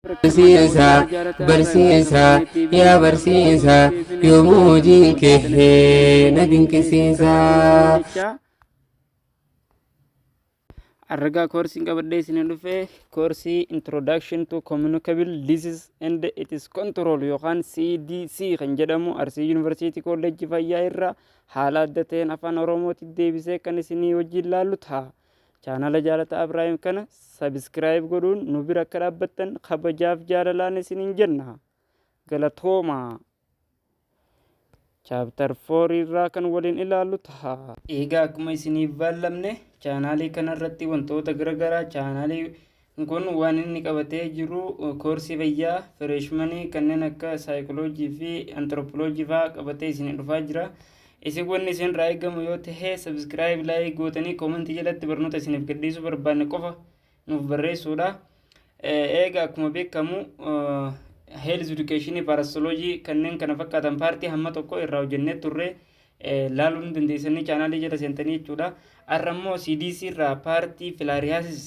barsiisa barsiisa yaa barsiisa yoomuu hojiin kee na dinqisiisa. Argaa koorsiin qabadhee isin dhufe koorsii introduction to communicable disease and its control yookaan CDC kan jedhamu Arsii Yuunivarsiitii Kolleejjii Fayyaa irraa haala adda ta'een afaan Oromootti deebisee kan isinii wajjin laallu ta'a. Chaanala Jaalataa Abraahim kana Sabiskiraayib godhuun nu bira akka dhaabbattan kabajaaf jaalalaan isiniin jenna. Galatoomaa! Chaaptar 4 irraa kan waliin ilaallu taha. Eegaa akkuma isiniif baallamne chaanaalii kanarratti wantoota garagaraa chaanaalii Kun waan inni qabatee jiru koorsii fayyaa fireeshmanii kanneen akka saayikoloojii fi antiroopoloojii fa'aa qabatee isin dhufaa jira. Isin wanni isin irraa eegamu yoo ta'e sabiskiraayib laayik gootanii koomentii jalatti barnoota isiniif gadhiisuu barbaanne qofa nuuf barreessuudha. Eega akkuma beekamu heelz edukeeshinii paarasoloojii kanneen kana fakkaatan paartii hamma tokko irraa hojjennee turre laaluu ni dandeessanii chaanaalii jala seentanii jechuudha. Har'a immoo CDC irraa paartii filaariyaasis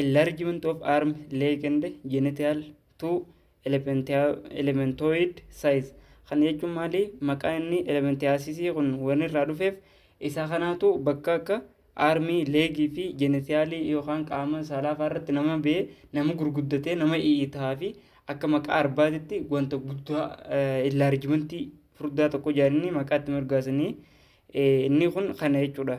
Enlargement of arm, leg and genital to elementoid size. Kana jechuun maali? Maqaa inni elementiyaasisii kun waan irraa dhufeef isaa kanaatu bakka akka armii, leegii fi jenitiyaalii yookaan qaama saalaa fa'aa irratti nama bee nama gurguddatee nama i'itaa fi akka maqaa arbaatitti wanta guddaa enlargimentii furdaa tokko jedhanii maqaatti mirgaasanii inni kun kana jechuudha.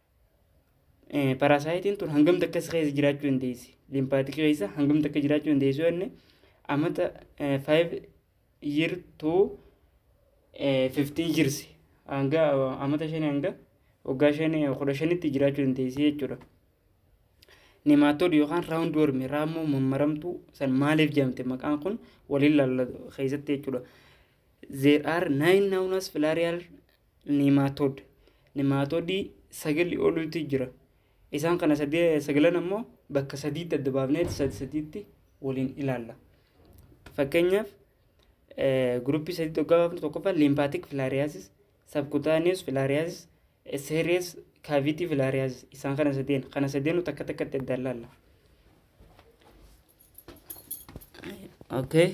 Parasaayitiin tun hangam takka si keessa jiraachuu dandeessi. Limpaatik keessa hangam takka jiraachuu dandeessu jenne amata 5 year to 15 years hanga amata 5 hanga waggaa 5 15tti jiraachuu dandeessi jechuudha. Nimaatood yookaan raawundi wormi raammoo mammaramtuu san maaliif jedhamte maqaan kun waliin laallatu keessatti jechuudha. There are nine nownous filarial Niimaatood. Niimaatoodii sagalii oliitu jira. Isaan kana sagalan ammoo bakka sadiitti adda baafnee sadi sadiitti waliin ilaalla. Fakkeenyaaf guruppii sadiitti hoggaa baafnu tokkoffaa liimpaatik filaariyaasis, sabkutaaniyees filaariyaasis, seeriyees kaaviitii filaariyaasis isaan kana sadeen kana sadeenu takka takkatti adda ilaalla. Okay.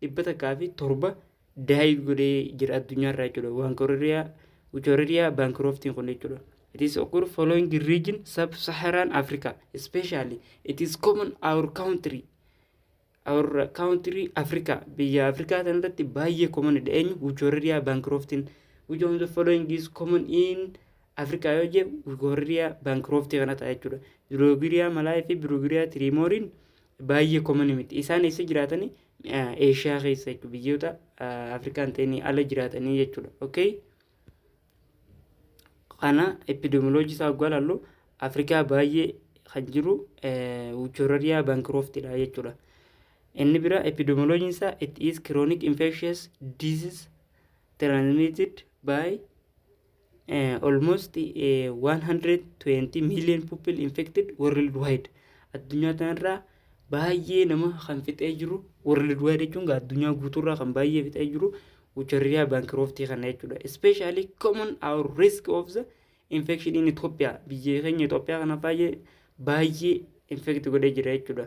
dhibba takkaa fi torba daayit godhee jira addunyaarraa jechuudha waankoririyaa Uchoreria bankiroftiin kun jechuudha. It is occur following the region sub-Saharan Africa especially it is common our country our country Africa biyya Afrikaa sanarratti baay'ee common dha eenyu Uchoreria bankiroftiin which of the following is common in Africa yoo jee Uchoreria bankiroftii kana ta'a jechuudha. Biroogiriyaa malaa fi biroogiriyaa tiriimooriin baay'ee common miti. Isaan eessa jiraatani? Eeshiyaa keessa jechuudha. Biyyoota Afrikaan ta'inii ala jiraatanii jechuudha. Okay? Kana epidemiology isaa oggaa ilaallu Afrikaa baay'ee kan jiru Wuchorariyaa Bankirooftidha jechuudha. Inni bira epidemiology isaa it is chronic infectious disease transmitted by uh, almost uh, 120 million people infected worldwide addunyaa tanarraa baay'ee nama kan fixee jiru worldwide jechuun gaa addunyaa guutuurraa kan baay'ee fixee jiru ucharriyaa baankirooftii kana jechuudha especially common our risk of the infection in Ethiopia biyya keenya Ethiopia kana baay'ee baay'ee infect godhee jira jechuudha.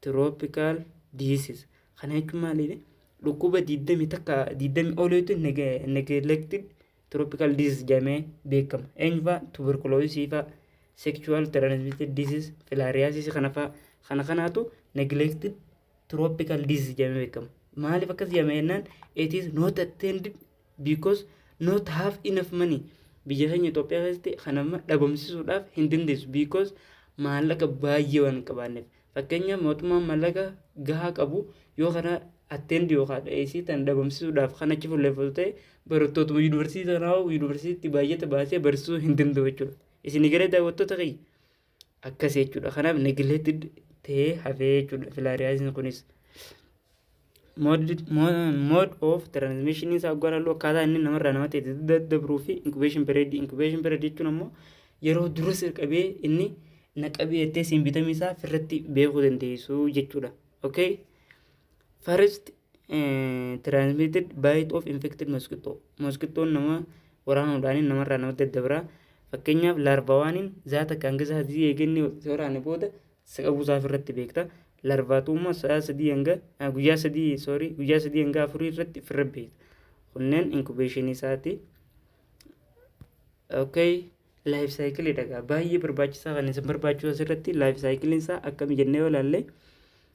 Tropical diseases. Kana jechuun maaliidha? Dhukkuba 20 takka 20 oliitu neglected tropical disease jedhamee beekama. Eenyufaa tuberculosis faa sexual transmitted disease filariasis kana faa kana kanaatu neglected tropical disease jedhamee beekama. Maaliif akkas jedhame jennaan it is not attended because not have enough money biyya keenya Itoophiyaa keessatti kan amma dhabamsiisuudhaaf hin dandeessu because maallaqa baay'ee waan hin qabaanneef fakkeenya mootummaan maallaqa gahaa qabu yoo kana atteendi yookaan dheessii tan dhabamsiisuudhaaf kan achi fuulleeffatu ta'e barattootuma yuunivarsiitii tanaa yuunivarsiitii baay'ata baasee barsiisuu hin danda'u jechuudha isin garee daawwattoota kiyya Akkasi jechuudha. Kanaaf neglected ta'ee hafee jechuudha filariasis kunis. Mode of transmission isaa gara loo akkaataa inni namarraa namatti itti daddabruu fi incubation period. Incubation period jechuun ammoo yeroo dura sirqabee inni naqabee jettee siin bitamee isaa firratti beekuu dandeessu jechuudha. Okay? First eh, transmitted bite of infected mosquito. Mosquitoon nama waraanuudhaan namarraa namatti daddabra. Fakkeenyaaf laarvawaaniin zaata kan keessa sadii eeganii osoo waraane booda isa qabuusaa ofirratti beekta. Laarvaatuummoo sa'a sadii hanga ah, guyyaa sadii sorry guyyaa sadii hanga afurii irratti ofirra beekta. Kunneen inkubeeshinii isaati. Okay. Life cycle dhagaa baay'ee barbaachisaa kan isin barbaachisu asirratti life cycle isaa akkami jennee yoo ilaalle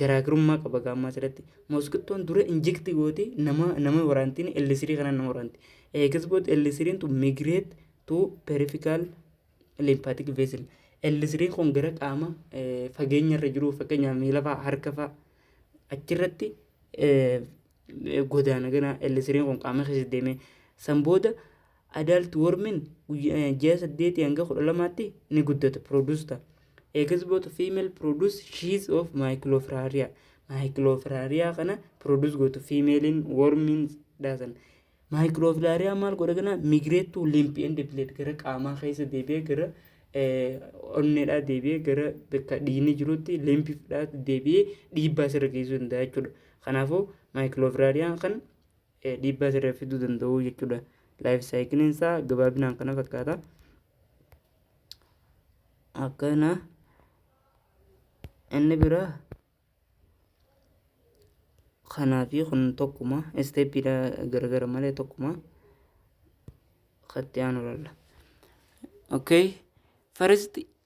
garaagarummaa qaba gaammaa asirratti moskittoon dura injekti gooti nama nama waraantiin L3 kanaan nama waraanti eegas booda L3 tu migrate to peripheral lymphatic vessel L3 kun gara qaama fageenya irra jiru fakkeenyaaf miila fa'aa harka fa'aa achirratti godaana gana L3 kun qaama keessa deemee san booda Adult wormin ji'a 8 hanga 12tti ni guddata, produce ta'a. Eggs both female produce sheaths of microfraria. Microfraria kana produce gootu femalein wormin dhaasan. Microfraria maal godha kana migrate to lymph and blood gara qaamaa keessa deebi'ee gara onneedhaa deebi'ee gara bakka dhiigni jirutti limpidhaa deebi'ee dhiibbaa sirra geessuu danda'a jechuudha. Kanaafuu microfraria kan dhiibbaa sirra fiduu danda'u jechuudha. Laayif saayikiliin isaa gabaabinaan kana fakkaata. Akkana inni biraa kanaa fi kun tokkuma isteeppiidha garagara malee tokkuma katti aanu lalla. Okay. First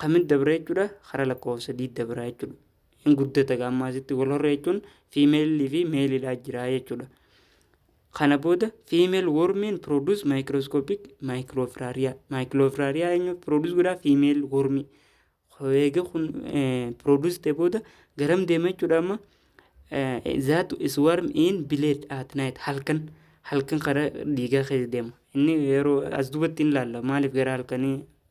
Kamit dabree jechuudha kara lakkoofsa D dabraa jechuudha. Hin guddata gaammaa asitti wal horree jechuun fiimeelii fi meelidhaa jiraa jechuudha. Kana booda fiimeel wormiin produce microscopic microfraria. Microfraria eenyu produce godhaa fiimeel wormii. Eega kun produce ta'e booda garam deema jechuudha amma that is worm in blade at night halkan halkan kara dhiigaa keessa deema. Inni yeroo as duubatti hin laalla maaliif gara halkanii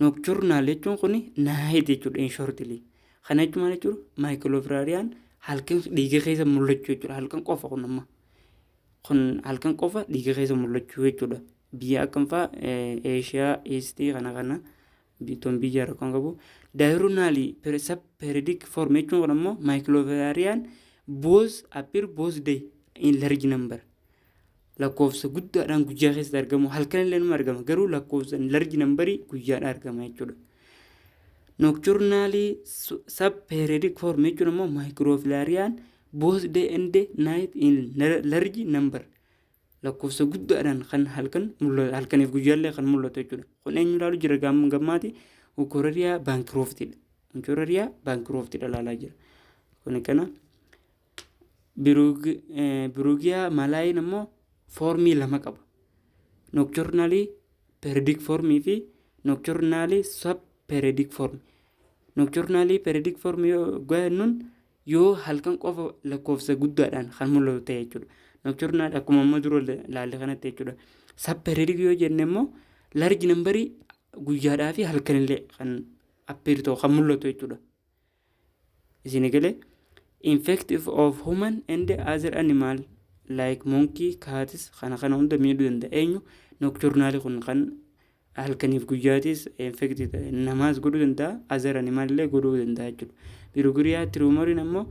Nocturnal jechuun kun night jechuudha in shortly. Kana jechuun maal jechuudha? Microfilarian halkan dhiiga keessa mul'achuu jechuudha. Halkan qofa kun amma. Kun halkan qofa dhiiga keessa mul'achuu jechuudha. Biyya akkam fa'a Eeshiyaa, Iistii kana kana biittoon biyya rakkoon qabu. Diurnally subperiodic form jechuun kun ammoo microfilarian both appear both day in large number. lakkoofsa guddaadhaan guyyaa keessatti argamu halkan illee nama argama garuu lakkoofsa larji nambarii guyyaadhaan argama jechuudha. Nocturnally subperiodic form jechuun immoo microfilarian both day and day night in large number lakkoofsa guddaadhaan kan halkan mul'atu halkaniif guyyaallee kan mul'atu jechuudha. Kun eenyu ilaalu jira gammaati Ukorariyaa baankirooftiidha. Ukorariyaa baankirooftiidha ilaalaa jira. Kun kana. Biruugiyaa malaayiin ammoo foormii lama qaba. Nookchornaalii peeridik foormii fi nookchornaalii sab peeridik foormii. Nookchornaalii peeridik foormii yoo jennuun yoo halkan qofa lakkoofsa guddaadhaan kan mul'atu ta'e jechuudha. Nookchornaal akkuma amma dura ilaalle kanatti jechuudha. Sab peeridik yoo jenne immoo larji nambarii guyyaadhaa fi halkanillee kan appeeritoo kan mul'atu jechuudha. Isini galee? Infective of human and other animal like monkey, cats kana kana hunda miidhuu danda'a. Eenyu nocturnal kun kan halkaniif guyyaatis infective ta'e namaas godhuu danda'a, other animal illee godhuu danda'a jechuudha. Birugiriyaa tirumoriin ammoo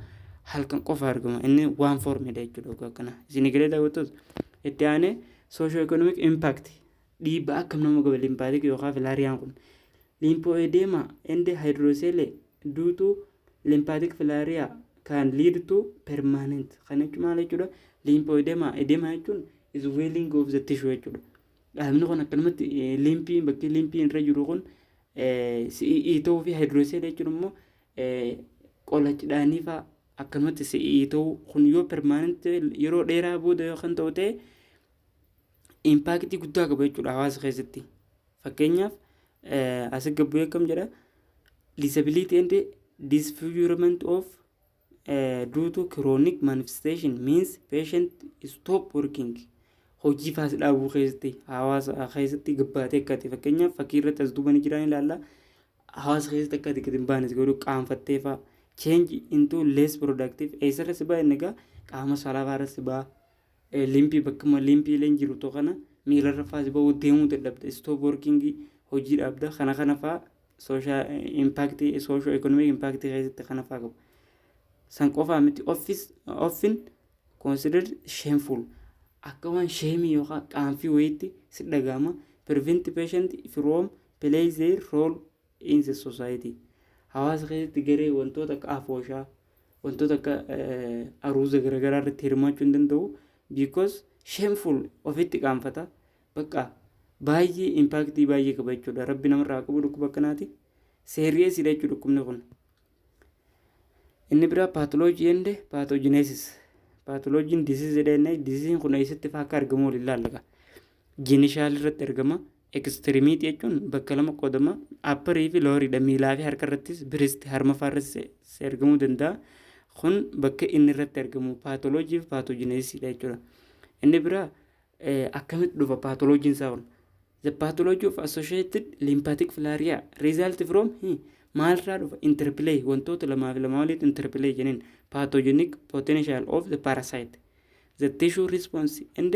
halkan qofa argama. Inni waan formidha jechuudha ogaa kana. Isini galee daawwattoota? Itti aanee socio-economic impact Dhiibbaa akkam nama gaba limpaatik yookaa filaariyaan kun? Liimpoo'eedeema ende haayidrooseelee duu tuu limpaatik filaariyaa kaan liid tuu permaanent. Kana jechuun maal jechuudha? Liimpoo'eedeema edeema jechuun isweeling of the tissue jechuudha. Dhaabni kun akkanumatti liimpii bakkee liimpii irra jiru kun si'ii ta'uu fi haayidrooseelee jechuun immoo qolachidhaanii fa'aa akkanumatti si'ii ta'uu kun yoo permaanent yeroo dheeraa booda yoo kan ta'u ta'e impaaktii guddaa qaba jechuudha hawaasa keessatti. Fakkeenyaaf asii gabbuu akkam jedha disability and disfigurement of uh, due to chronic manifestation means patient stop working hojii faas dhaabuu keessatti hawaasa keessatti gabbaatee akkati fakkeenyaaf fakkii irratti as duubanii jiraan ilaalla hawaasa keessatti akkati gadi hin baanes godhu qaanfattee fa'a change into less productive eessarra si ba'a inni egaa qaama saalaa irra si ba'a Limpii, Bakkuma limpiileen jirutoo kana miilarra faas ba'uu, deemuu dadhabda, stop working, hojii dhaabda, kana kana faa social impact, social economic impact keessatti kana faa qabu. San qofaa miti office, often considered shameful. Akka waan sheemii yookaan qaanfii wayiitti si dhaga'ama. Prevent patient from play their role in the society hawaasa keessatti garee wantoota akka afooshaa wantoota akka aruuza garaagaraa irratti hirmaachuu hin danda'u because shameful ofitti qaanfata bakka baay'ee impaaktii baay'ee qaba jechuudha rabbi namarraa haa qabu dhukkuba akkanaati seeriyeesiidha jechuudha dhukkubni kun inni biraa paatoloojii ende paatoojineesis paatoloojiin diziizidha inni diziiziin kun eessatti faa akka argamu waliin laallaka jinishaal irratti argama Ekstiriimiitii jechuun bakka lama qoodama. Apparii fi looriidha. Miilaa fi harka irrattis biristi harma faa irrattis argamuu danda'a. Kun bakka inni irratti argamu paatoloojii fi paatoojineesiidha jechuudha. Inni biraa akkamitti dhufa paatoloojiin isaa kun? The pathology of associated lymphatic filaria result from maalirraa dhufa? Interplay wantoota lamaa fi lamaa walitti interplay jeniin pathogenic potential of the parasite the tissue response and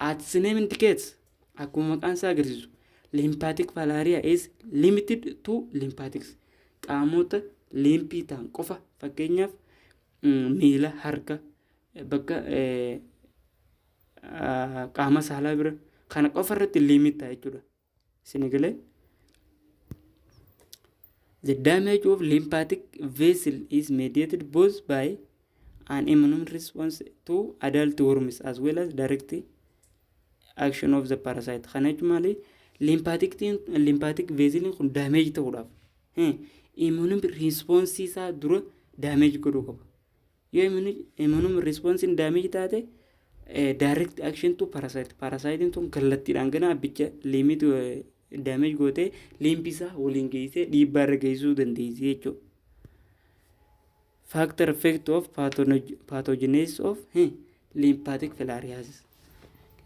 Its name indicates, Akkuma maqaan isaa agarsiisu, lymphatic falaria is limited to lymphatics. Qaamota liimpii ta'an qofa fakkeenyaaf mm, miila, harka, eh, bakka eh, ah, qaama saalaa bira kana qofa irratti liimit ta'a jechuudha. Isin galee? The damage of lymphatic vessel is mediated both by an immune response to adult worms as well as direct action of the parasite. Kana jechuun maali? Lymphatic vessel kun damage ta'uudhaaf immune response isaa dura damage godhuu qaba. Yoo immuun responsiin damage taate direct action to parasite parasite tun kallattiidhaan gana abbicha limit damage gootee liimpisaa waliin geessee dhiibbaa irra geessisuu dandeessi jechuudha. Factor effect of pathogenesis of eh, lymphatic filariasis.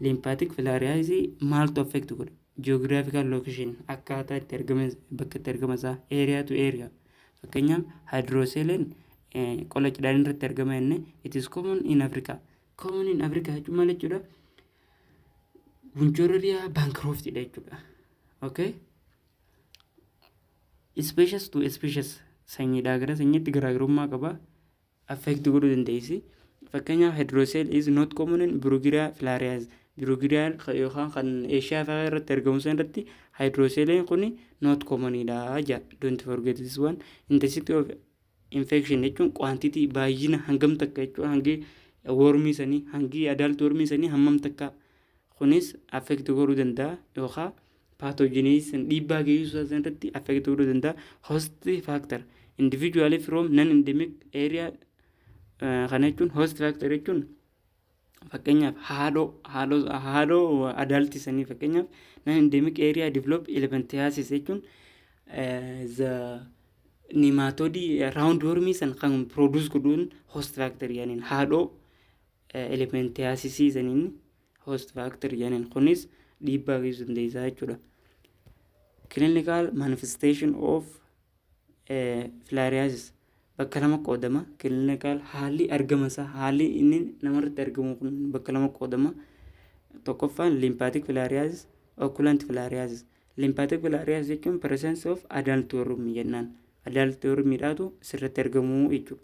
Lymphatic filariasis maaltu affect godha? Geographical location akkaataa itti argama bakka itti argama isaa area to area. Fakkeenyaaf hydroseeleen qola cidhaan irratti argama jenne it is common in Africa. Common in Africa jechuun maal jechuudha? Bunchororiyaa bankroftidha jechuudha. Okay? Species to species sanyiidhaa gara sanyiitti garaagarummaa qaba. affect godhuu dandeessi. Fakkeenyaaf hydrocele is not common in Bruguiria filarias. Bruguiria yookaan kan Eeshiyaa fa'aa irratti argamu san irratti hydroceleen kun not common dha ja. Don't forget this one. Intensity of infection jechuun quantity baay'ina hangam takka jechuun hangi wormii sanii hangi adult wormii sanii hammam takka kunis affect godhuu danda'a yookaan pathogenes san dhiibbaa geessisuu isaa san irratti affect godhuu danda'a. Host factor individually from non endemic area eh, kana jechuun host factor jechuun fakkeenyaaf haadhoo haadhoo haadhoo adaalti sanii fakkeenyaaf non endemic area develop elephantiasis jechuun eh, the nematodii round wormii san kan produce godhuun host factor yaaniin haadhoo eh, elephantiasis saniin host factor jedhaniin kunis dhiibbaa geessisuu dandeessa jechuudha. Clinical manifestation of eh, filariasis bakka lama qoodama. Clinical haalli argama isaa haalli inni namarratti argamu kun bakka lama qoodama. Tokkoffaan lymphatic filariasis, occult filariasis. Lymphatic filariasis jechuun presence of adult worm jennaan. Adult worm dhaatu sirratti argamu jechuudha.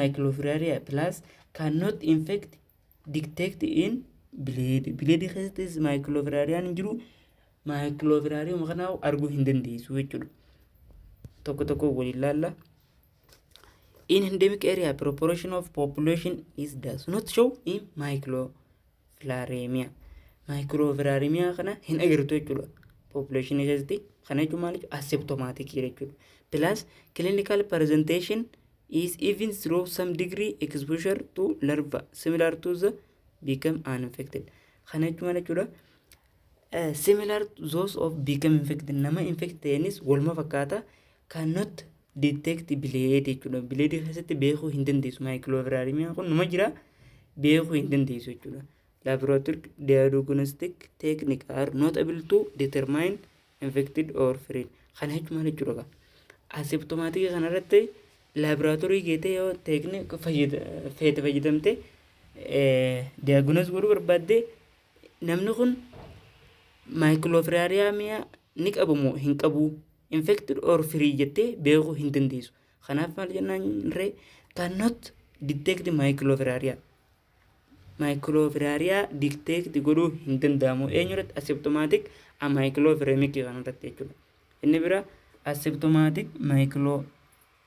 microfilariae plus cannot infect detect in blade blade keessattis microfilariaan hin jiru microfilarium kana arguu hin dandeessu jechuudha tokko tokko waliin laalla in endemic area proportion of population is does not show in micro filaareemiyaa. Maayikiroo filaareemiyaa kana hin agartu jechuudha. Poopuleeshinii keessatti kana jechuun maal jechuudha? Aseptomaatikii jechuudha. Plus clinical presentation is even through some degree exposure to larva similar to the become uninfected. Kana jechuun maal jechuudha? similar to those of become infected nama infect ta'eenis waluma fakkaata cannot detect blade jechuudha. Blade keessatti beekuu hin dandeessu. Maayikilooviraarimiyaan kun numa jira beekuu hin dandeessu jechuudha. Laboratory diagnostic technique are not able to determine infected or free. Kana jechuun maal jechuudha qaba? Asiptomaatika kanarratti laaboraatoorii geetee yoo teeknika feete fayyadamte diagnoos godhuu barbaadde Namni kun maayikiloofiraariyaamiyaa ni qabu moo hin qabu infected or free jettee beekuu hin dandeessu. Kanaaf maal jennaan ree cannot detect maayikiloofiraariyaa. Maayikiloofiraariyaa detect godhuu hin danda'amu eenyu irratti aseptomaatik amaayikiloofiremikii kan irratti jechuudha. Inni bira aseptomaatik maayikiloofiremikii.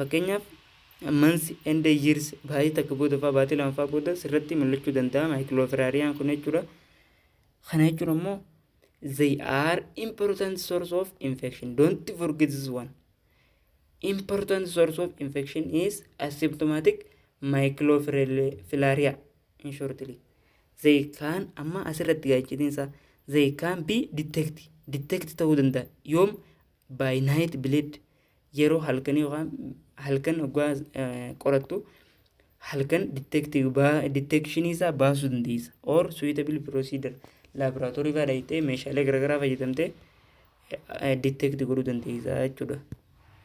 Fakkeenyaaf months and years baatii takka booda fa'aa baatii lama fa'aa booda sirratti mul'achuu danda'a maayikilooferariyaan kun jechuudha. Kana jechuun ammoo they are important source of infection don't forget this one. Important source of infection is asymptomatic microfilariae in shortly. They can amma asirratti gaachitiinsa they can be detect detect ta'uu danda'a yoom by night bleed yeroo halkanii yookaan halkan hoggaa qorattu halkan diteekshini isaa baasuu dandeessa or suitable procedure laaboraatoorii fa'aa dhaqxee meeshaalee garaagaraa fayyadamtee diteekti godhuu dandeessa jechuudha.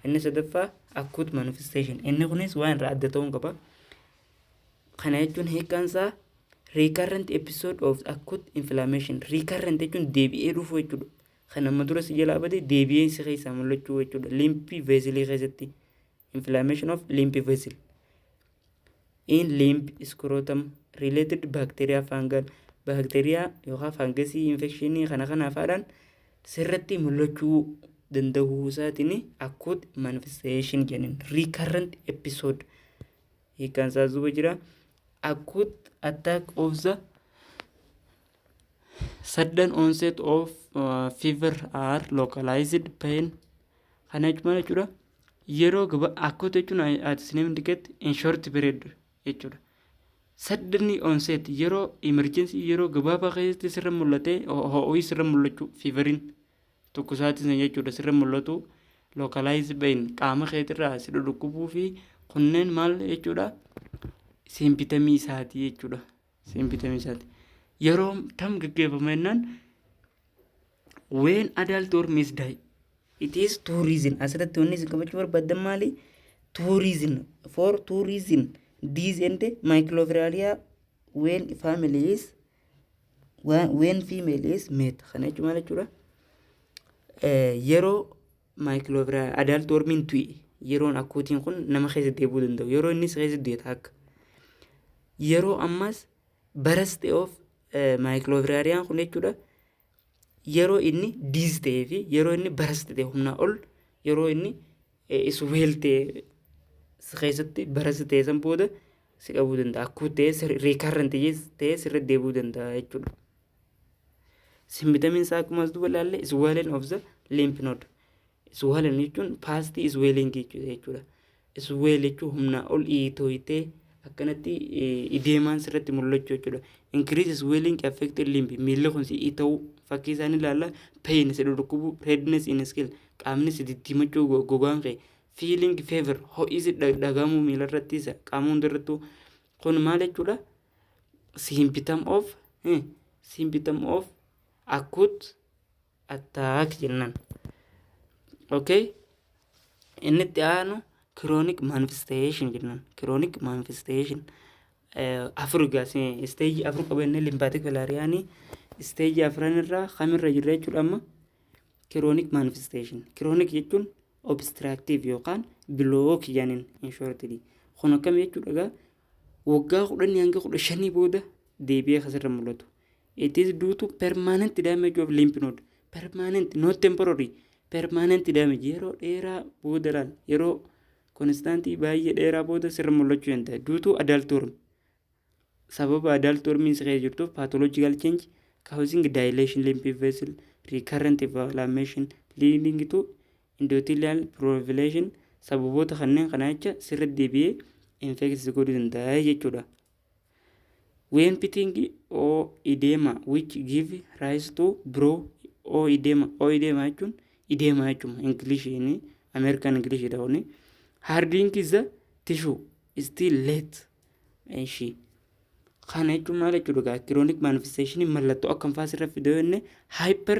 Inni sadaffaa akkuut manifestation inni kunis waan irraa adda ta'uu qaba. Kana jechuun hiikaan isaa recurrent episode of acute inflammation recurrent jechuun deebi'ee dhufuu jechuudha. Kan amma dura si jalaa bade deebi'ee si keessaa mul'achuu jechuudha. Liimpii veesilii keessatti inflammation of lymph vessel in lymph scrotum related bacteria fungal baakteeriyaa yookaan faangasii infekshinii kana kanaaf haadhaan sirratti mul'achuu danda'uu isaatiin akkuut manifestation jennin recurrent episode hiikaan isaa duuba jira akkuut attack of the Sudden onset of uh, fever are localized pain kana jechuun maal jechuudha yeroo gaba akkuuta jechuun ati isiniif indiketti in short period jechuudha. Sudden onset yeroo emergency yeroo gabaabaa keessatti sirra mul'atee ho'o'i sirra mul'achuu feverin tokko isaatiin san jechuudha sirra mul'atu localized pain qaama keetirraa si dhudhukkubuu fi kunneen maal jechuudha simpitamii isaati jechuudha. Siin bitamisaati. Yeroo tam gaggeeffama jennaan when adult or miss die. It is two reason. Asirratti wanni isin qabachuu barbaaddan maali? Two reason. For two reason. These and microfilaria when family is when female is met. Kana jechuun maal jechuudha? Yeroo Maayikilooviraa adaalti warmiin tu'i yeroon akkuutiin kun nama keessa deebi'uu danda'u yeroo innis keessa du'e taakka. Yeroo ammaas baras ta'e of maayikiloovirariyaan kun jechuudha yeroo inni diis ta'ee fi yeroo inni baras ta'e humnaa ol yeroo inni isweel ta'e keessatti baras ta'e san booda si qabuu danda'a akkuu ta'e riikarranti ta'e sirra deebi'uu danda'a jechuudha. Simbitamiin isaa akkuma as duba ilaalle swelling of the lymph node. Swelling jechuun past swelling jechuudha. Swell jechuun humnaa ol iitooyitee akkanatti ideemaan sirratti mul'achuu jechuudha. Increase swelling affected lymph miilli kun si iita'uu fakkii isaan ilaalla pain si dhukkubu redness in skin qaamni si diddiimachuu gogaan kee feeling fever ho'isi dhagahamuu miila irratti isa qaama hundarrattuu kun maal jechuudha? symptom of eh, symptom of acute attack jennan okay inni itti aanu chronic manifestation jennan chronic manifestation eh, afur gaas stage afur qaba inni lymphatic filariyaanii stage afran irraa kamirra jirra jechuudha amma chronic manifestation chronic jechuun obstructive yookaan block jedhaniin in shortly kun akkam jechuudha egaa waggaa 10 hanga 15 booda deebi'ee kan sirra mul'atu. It is due to permanent damage of lymph node. Permanent, not temporary. Permanent damage yeroo dheeraa booda laal yeroo konstaantii baay'ee dheeraa booda sirra mul'achuu danda'a. Due to adult worm. Sababa adult wormiin si keessa jirtuuf pathological change causing dilation lymph vessel recurrent inflammation leading to Endothelial proliferation sababoota kanneen kana jecha sirriitti deebi'ee infect si godhuu danda'a jechuudha. When pitting or edema which give rise to bro or edema or edema jechuun edema jechuun Ingiliishiin Ameerikaan Ingiliishiidha kuni. Hardening is the tissue still late. Ishii. Kana jechuun maal jechuudha gaa kiroonik manifesteeshinii mallattoo akkam fa'aa sirra fidee jenne hyper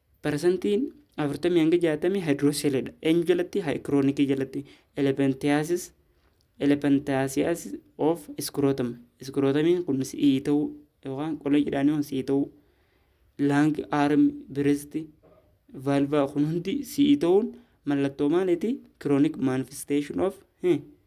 Parasantiin 40-60 hydrocele-dha. Eenyu jalatti? Haikiroonikii jalatti. Elephantiasis, elephantiasis of scrotum. Scrotamiin kun si'ii ta'uu yookaan qolee jedhaanii kun si'ii ta'uu. Lung, arm, breast, valva kun hundi si'ii ta'uun mallattoo maaliiti? Chronic manifestation of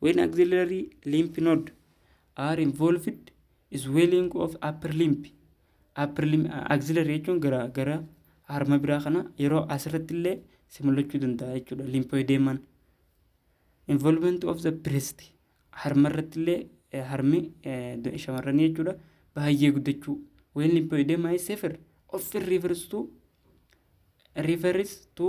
When axillary lymph node are involved swelling of upper limb upper limb axillary jechuun gara gara harma biraa kana yeroo asirratti illee si mul'achuu danda'a jechuudha lymphoedeman involvement of the breast harma irratti illee eh, harmi eh, do- shamarranii jechuudha baay'ee guddachuu when lymphoedema is severe often refers to refers to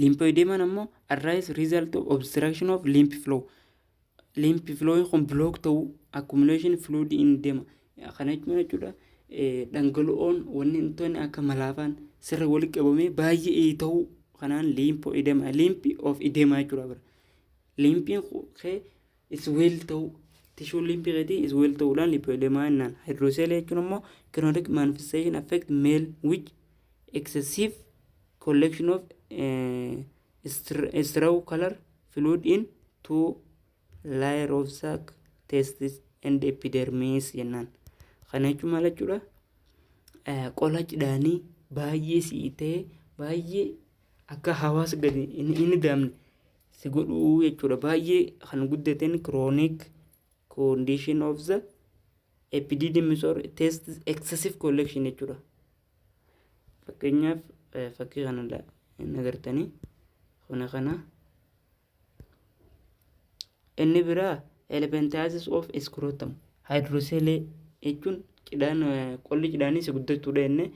Liimfooyideemaan ammoo arise result of obstruction of lymph flow. Lymph flow kun block ta'uu accumulation fluid in deema. Kana jechuun jechuudha dhangala'oon wantoonni akka malaafaan sirra walitti qabamee baay'ee ta'uu kanaan liimfooyideema liimfi of ideemaa jechuudha bira. Liimfiin kee is well ta'uu tishuun liimpii keetii is well ta'uudhaan lipoedemaa jennaan hydrocele jechuun ammoo chronic manifestation affect male which excessive collection of uh, straw color fluid in two layer of sac testis and epidermis jennaan kana jechuun maal jechuudha qola cidhaanii baay'ee si'itee baay'ee akka hawaasa gadi inni daamne si godhuu jechuudha. Baay'ee kan guddateen chronic condition of the epididymis or test excessive collection jechuudha. Fakkeenyaaf eh, fakkii kana la- hin agartanii kana kana inni biraa elephantiasis of scrotum hydrocele jechuun cidhaan eh, qolli cidhaanii si guddachuudha inni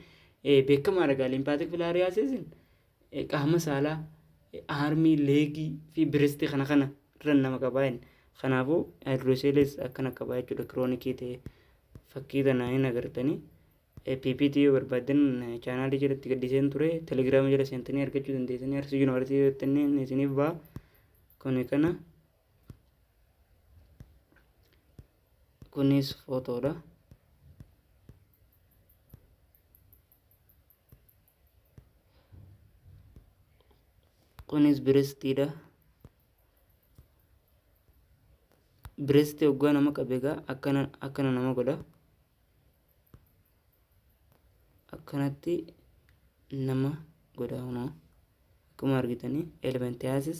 eh, beekamaadha gaa lymphatic filariasis qaama saalaa aarmii leegii fi birestii kana kana irra nama qabaa inni kanaafuu haayidirooseelees akkana qabaa jechuudha kiroonikii ta'e fakkii tana hin agartanii ppt yoo barbaaddan chaanaalii jalatti gaddiseen ture telegiraama jala seentanii argachuu dandeessanii arsii yuunivarsiitii jettaniin isiniif ba'a kuni kana kunis footoodha. kunis birestiidha biresti oggaa nama qabe egaa akkana akkana nama godha akkanatti nama godha kunoo akkuma argitanii elementiasis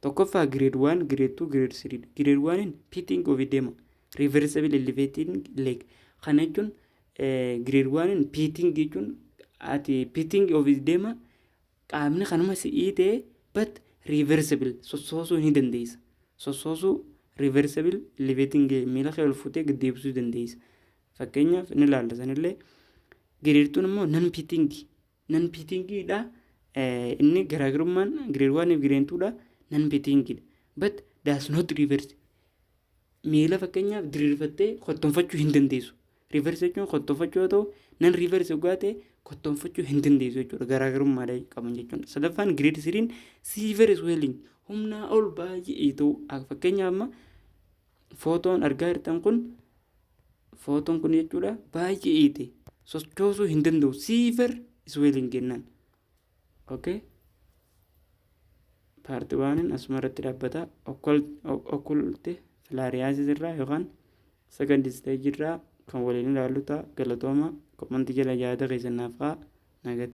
Tokkoffaa grade 1, grade 2, grade 3 dha. Grade 1n pitting of edema, reversible elevating leg. Kana jechuun eh, grade 1n pitting jechuun ati pitting of edema qaamni kanuma si'ii ta'e but reversible sossoosuu ni dandeessa. Sossoosuu reversible elevating leg miila kee ol fuutee gad deebisuu dandeessa. Fakkeenyaaf ni ilaalla sanillee. Grade 2 immoo non pitting Nan piitingii dha. Inni garaagarummaan grade 1 fi grade 2 dha. Nan piitingii dha. But does not reverse. Miila fakkeenyaaf diriirfattee kottoonfachuu hin dandeessu. Reverse jechuun kottoonfachuu yoo ta'u, nan reverse dhugaa ta'e kottoonfachuu hin dandeessu jechuudha. Garaagarummaa qaban jechuudha. Sadaffaan grade 3 silver swelling humnaa ol baay'ee ta'u. Fakkeenyaaf amma Footoon argaa jirtan kun footoon kun jechuudha baay'ee iite sochoosuu hin danda'u siiver isweeliin kennaan. Okay. Paartii waaniin asuma irratti dhaabbata okkulte filaariyaasis irraa yookaan sagan disteejii irraa kan waliin ilaallu ta'a galatooma komantii jala yaada keessan naaf haa nagatti.